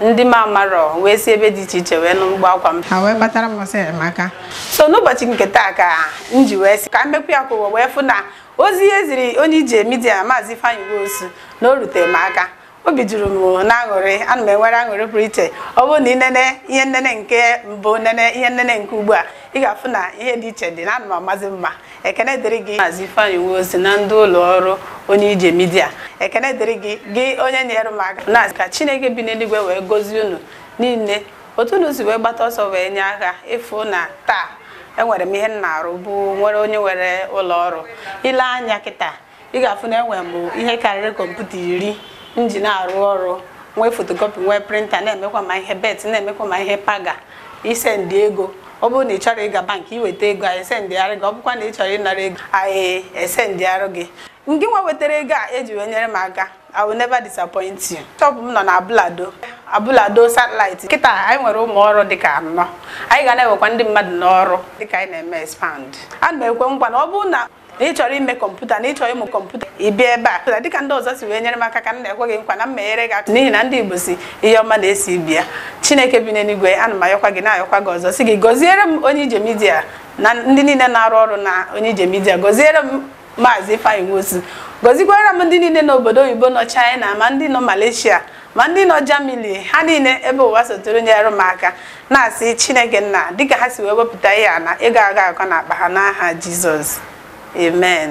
ndị m amarọ wee si ebe dị iche iche wee nụ mkpu akwa m ha wee gbatara m ọsọ enyemaka so n'ụbọchị nke taa ka m ji wee sị ka m mekwu ya ka ụwa wee fụ na ozi e ziri onye ije midia maazị Ifeanyi Nwosu na o rutere m aka obi juru m na aṅụrị ana m enwere aṅụrị pụrụ iche ọ bụrụ na ị nene ihe nnene nke mbụ nene ihe nnene nke ugbu a ị ga-afụ na ihe dị iche dị na ana m amazi mma ekene dịrị gị maazị Ifeanyi Nwosu na ndị ụlọ ọrụ onye ije midia ekene dịrị gị gị onye nyere m aka na ka chineke bi n'eluigwe wee gozie unu niile otu unu si wee gbata ọsọ wee nye aka ịfụ na taa enwere m ihe m na-arụ bụ nwere onye nwere ụlọ ọrụ i lee anya kịta ị ga-afụ na enwere m ihe karịrị kọmputa iri m ji na-arụ ọrụ nwee fotokopi nwee printa na-emekwa ma ihe bet na-emekwa ma ihe paga isendị ego ọ bụrụ na ị chọrọ ịga bankị i weta ego anyị esendịara gị ọ bụkwa na ị chọrọ ịnara ego anyị esendịara gị ngị nwa wetara ego a eji wee nyere m aka I will never disappoint you. Shop m nọ na Abule Ado Abule Ado satellite kịta anyị nwere ụmụ ọrụ dịka anọ anyị ga na-ewekwa ndị mmadụ n'ọrụ dịka anyị na-eme expand ana m ekwe nkwa na ọ bụrụ na na ị chọrọ ime kọmputa na ị chọrọ ịmụ kọmputa ị bịa ebe a na dịka ndị ọzọ si wee nyere m aka ka m na-ekwe gị nkwa na m meghere gị aka n'ihi na ndị Igbo sị ihe ọma na-esi bịa Chineke bi n'eluigwe ana m ayọkwa gị na-ayọkwa gị ọzọ sị gị gọziere m onye ije midia na ndị niile na-arụ ọrụ na onye ije midia gọziere m maazị Ifeanyi Nwosu gọzikwara m ndị niile n'obodo oyibo nọ China ma ndị nọ Malaysia ma ndị nọ Germany ha niile ebe ụwa sọtụrụ nyere m aka na-asị Chineke nna dịka ha si wee wepụta ihe a na ego aga akọ na akpa ha n'aha Jizọs amen